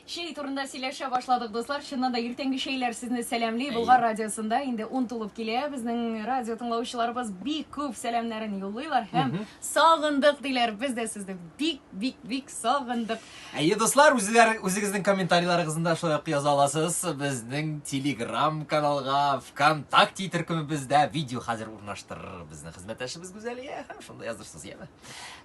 Чәй турында сөйләшә башладык, дуслар. Чыннан да иртәнге чәйләр сезне сәламли. Болгар радиосында инде ун тулып килә. Безнең радио тыңлаучыларыбыз бик күп сәламнәрен юллыйлар һәм сагындык диләр. Без дә сезне бик бик бик сагындык. Әйе, дуслар, үзләр үзегезнең комментарийларыгызны шулай ук яза аласыз. Безнең Telegram каналга, ВКонтакте төркемебездә видео хәзер урнаштырыр безнең хезмәттәшебез Гүзәлия һәм шунда язырсыз, яме.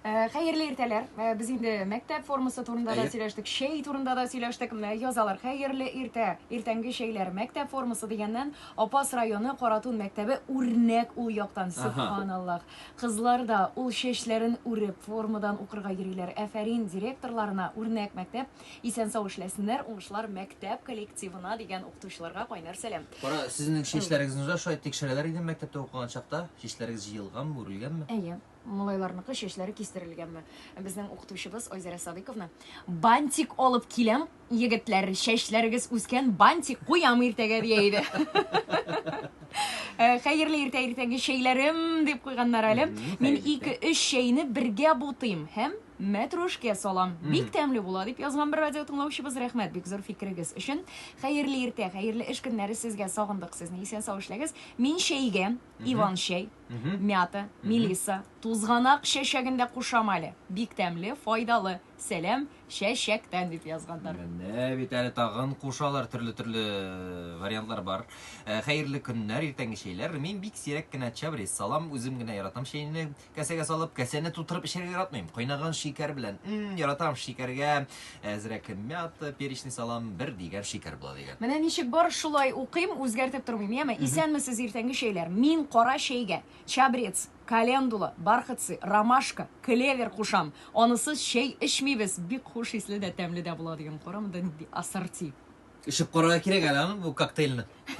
Э, хәерле иртәләр. Э, без инде мәктәп формасы турында да сөйләштек, шәй турында да сөйләштек. Менә язалар. Хәерле иртә. Иртәнге шәйләр. Мәктәп формасы дигәннән Апас районы Каратун мәктәбе үрнәк ул яктан. Субханаллах. Кызлар да ул чәчләрен үреп формадан укырга йөриләр. Әфәрин директорларына үрнәк мәктәп. Исән сау эшләсеннәр. Уңышлар мәктәп коллективына дигән укытучыларга кайнар сәлам. Кара, сезнең чәчләрегезне дә шулай тикшерәләр иде мәктәптә укыган чакта. Чәчләрегез җыелганмы, үрелгәнме? Әйе. Малайларныкы чәчләре кистерелгәнме? Безнең укытучыбыз Айзәрә Садыйковна, Бантик алып киләм, егетләр, чәчләрегез үскән, бантик куям иртәгә, дия иде. Э, хәерле иртә иртәнге чәйләрем дип куйганнар әле. Мин 2-3 чәйне бергә бутыйм һәм мәтрүшкә салам. Бик тәмле була дип язган бер радио тыңлаучыбыз. Рәхмәт бик зур фикерегез өчен. Хәерле иртә, хәерле эш көннәре сезгә. Сагындык сезне. Исән сау эшләгез. Мин чәйгә иван-чәй, мята, мелиса, тузганак чәчәген дә кушам әле. Бик тәмле, файдалы. Сәлам чәчәктән, дип язганнар. Менә бит әле тагын кушалар, төрле-төрле э, вариантлар бар. Э, хәерле көннәр, иртәнге чәйләр. Мин бик сирәк кенә чабрис салам, үзем генә яратам чәйне. Кәсәгә салып, кәсәне тутырып эчәргә яратмыйм. Кайнаган шикәр белән. Мм, яратам шикәргә. Әзрәк мята, перечный салам, бер дигән шикәр була дигән. Менә ничек бар шулай укыйм, үзгәртеп тормыйм, яме. Исәнмесез, иртәнге чәйләр. Мин кара чәйгә чабрец, календула, бархатцы, ромашка, клевер кушам. Анысыз чәй эчмибез. Бик хуш исле дә, тәмле дә була дигән. Карамы да нинди ассорти. Эчеп карарга кирәк әле аны, бу коктейльны.